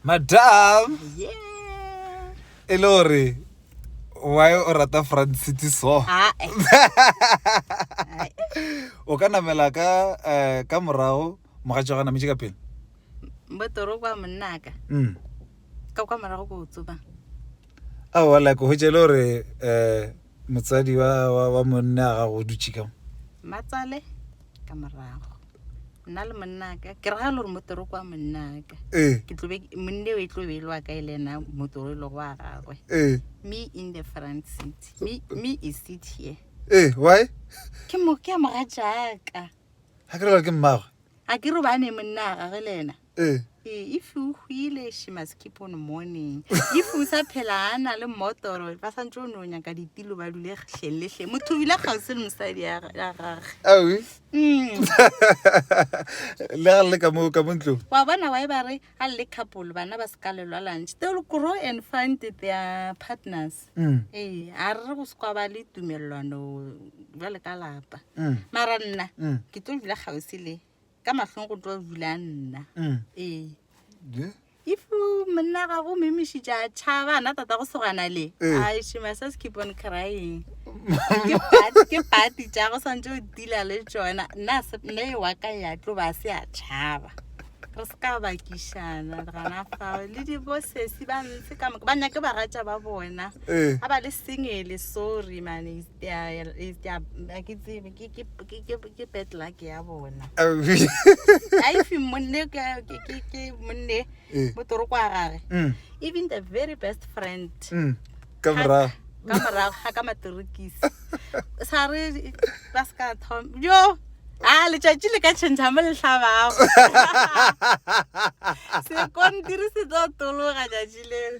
madam e le gore why o rata front city so ah, eh. o ka namela ka eh, ka morago mogatša ga nametše ka pele botoro kwa monnaka mm. ka kwa morago ko o tsoba aowa like go hwetša e le gore um Motsadi wa, wa, wa monna a gago o dutše ka mo. Matsale ka morago. Nna le monnaka, ke ragale gore motoro kwa monnaka. Ee. Ke tlobe, monne o e tlobe e le wa ka e le ena motoro e lego wa gagwe. Ee. Me in the front seat. Me, me e seat here. Ee, why? Ke mo, ke a moga jaaka. Ha ke re gore ke mmagwe. A ke re ba ne monna a gagwe le ena. ee Eh, if o hwile she must keep on morning if o sa phela a na le motoro ba santse o ne o nyaka ditilo ba dule hleng le hleng motho o bile kgausi le mosadi ya ga- ya gage awi Mm. le ga le le ka mo ka mo ntlong wa bona wae ba re ga le couple bana ba se ka lelwa lunch they will grow and find their partners Mm, ee a re go se kwa ba le tumelelwano jale ka lapa mm, mara nna mm. ke tlo dula kgausi le ka mahlong go tlo bula nna Mm. ee Je? if you- monna gago o memišitša a tšhaba ana tata go segwana le Eh. I- she must just keep on crying Ke part- ke party tša go swantse o dila le tsona nna se- nna e wa ka ya tlo ba se a tšhaba re se ka bakišana gana fao le dibosesi ba ntse ka moka ba nyake baratša ba bona Eh. ga ba le sengele sorry mane ya ya e- ya a ke tsebe ke ke ke ke ke bad luck ya bona a if monne ke ke ke ke monne Eh. mo toroko a gage Mm, even the very best friend mm. ka morago ka morago ga ka matorokisi sa re ba se ka thom yo a letšatši le ka tšhentšha mo letlhabago sekontiri se tlo tologa tšatši leo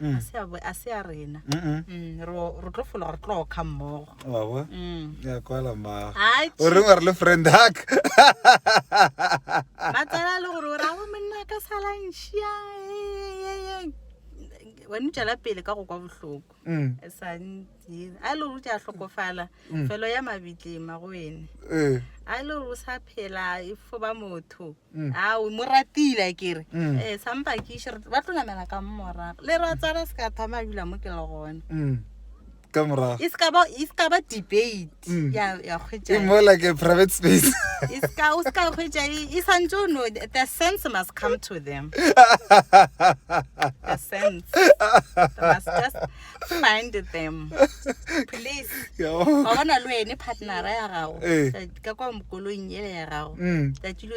Mm. a se a bo- a se a rena Mm-mm. Mm, ro ro tlo fologa re tlo kga mmogo wa bo Mm. ya kwala mmago Ai, o reng wa re le friend hack ba tsala le gore o ra go monna ka salantšhia wena o tšwela pele ka go kwa bohloko Mm, e sa ntse a e le gore o tša hlokofala felo ya mabitlema go ene eh. a e le gore o sa phela e fo ba motho Mm. a o mo ratile a kere Mm. um sampa ke išere ba tlo namela ka morago le ratsana se ka thoma a dula mo ke le gone Mm. ka morago e se ka ba- e se ka ba debate Mm. ya ya it's kgwetša more like a private space e se ka- o se ka kgwetša e e santse o no the sense must come to them the sense They must just find them please Ya bo- wa bona le wene partnera ya gago Eh. ka kwa mokolong ele ya gago Mm. tsatsi lo